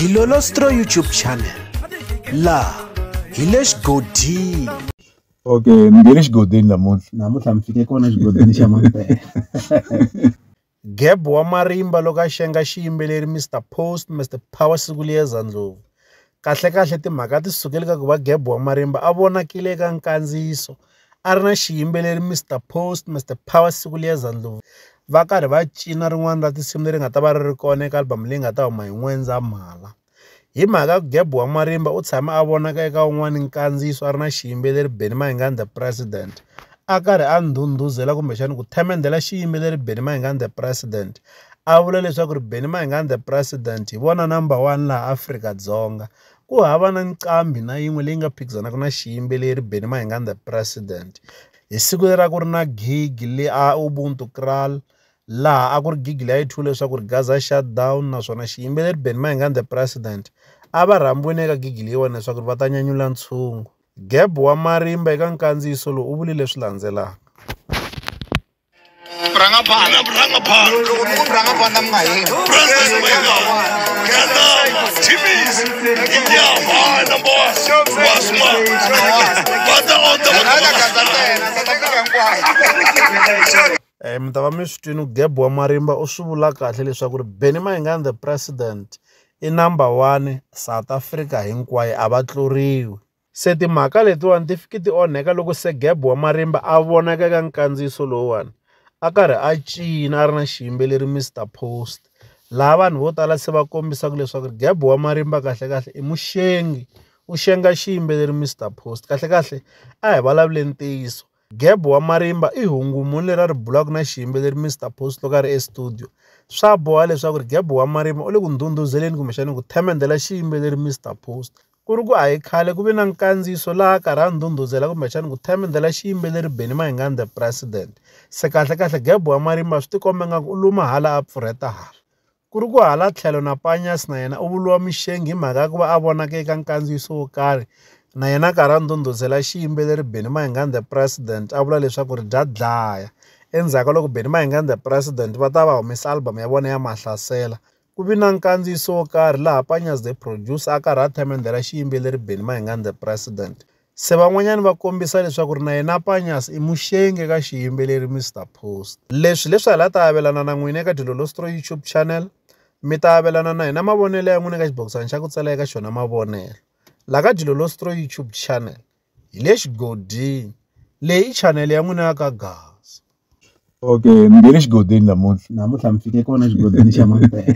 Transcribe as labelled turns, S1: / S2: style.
S1: dilolostro youtube channel laha hi le xigodini okay
S2: ni nge le xigodini namuntlha namuntlha mi fike kona xigodini xa mampela geb
S1: wa marimba loko a xenga xiyimbeleri mr post mr power siku liyeza ndlovu kahlekahle timhaka ti sukele ka ku va geb wa marimba a vonakile eka nkandziyiso a ri na xiyimbeleri Mister Post Mister Power Sibuleza Ndlovu va karhi va cina rin'wana ra tinsimu leri nga ta va ri ri kona eka album leyi nga ta huma hi N'wendzamhala hi mhaka ya ku Gabi wa marimba u tshame a vonaka eka wun'wani nkandziyiso a ri na xiyimbeleri Benny Mayengani the president a karhi a ndhundhuzela kumbexani ku themendela xiyimbeleri Benny Mayengani the president a vula leswaku ri Benny Mayengani the president hi vona number one laha Afrika-Dzonga ku hava na nqambi na yin'we leyi nga phikizanaka na xiyimbeleri Benny Mayengani the president hi siku leri a ku ri na gig le a Ubuntu Kraal laha a ku ri gig leyi a yi thyiwe leswaku ri Gaza shut down naswona xiyimbeleri Benny Mayengani the president a va rhambiwe ni le ka gig leyiwani leswaku va ta nyanyula ntshungu Geb wa marimba eka nkandziyiso lowu u vule leswi landzelaka. Rangapana, rangapana. Loko mi ku rangapana mi nga heli. President Wenga, Kanama, Timmy's, Inyama, number one, Wasma, Bata on the Eh, mi ta va mi swi twini geb wa marimba u swi vula kahle leswaku ri benny mayingani the president i number one south africa hinkwayo a va tluriwi Se timhaka letiwani ti fiki ti onheka loko se Geb wa marimba a vonaka eka nkandziyiso lowuwani a karhi a cina a ri na xiyimbeleri Mister Post laha vanhu vo tala se va kombisaka leswaku ri Geb wa marimba kahlekahle i muxengi u xenga xiyimbeleri Mister Post kahlekahle a hi vulavuleni ntiyiso Geb wa marimba i hungu muni leri a ri bulaka na xiyimbeleri Mister Post loko a ri estudio swa boha leswaku ri Geb wa marimba u le ku ndhundhuzeleni kumbexana ku themendela xiyimbeleri Mister Post. Ku ri ku a hi khale ku ve na nkandziyiso laha karhi a ndhundhuzela kumbexani ku themendela xiyimbeleri Benny Mayengani the President. Se kahlekahle Gebo wa marimba swi tikomba ingaku u luma hala a pfurheta hala. Ku ri ku hala tlhelo na Panyas na yena u vuriwa mixengi hi mhaka ya ku va a vonake eka nkandziyiso wo karhi na yena a karhi a ndhundhuzela xiyimbeleri Benny Mayengani the President a vula leswaku ri bya dlaya. Endzhaku ka loko Benny Mayengani the President va ta va humesa album ya vona ya Mahlasela Ku vi na nkandziyiso wo karhi laha Panya's the producer a karhi a themendha ra xiyimbeleri Benny Mayengani the president. Se van'wanyana va kombisa leswaku ri na yena Panya's i muxengi eka xiyimbeleri Mr Post. Leswi leswi hala ta avelana na n'wina eka Dilolostro YouTube channel mi ta avelana na hina mavonelo ya n'wina eka xibokisana xa ku tsala eka xona mavonelo la ka Dilolostro YouTube channel. hi le xigodini leyi chanele ya n'wina ya ka Gaza.
S2: Okay mi nge le xigodini namuntlha namuntlha mi fike kona xigodini xa Mampela.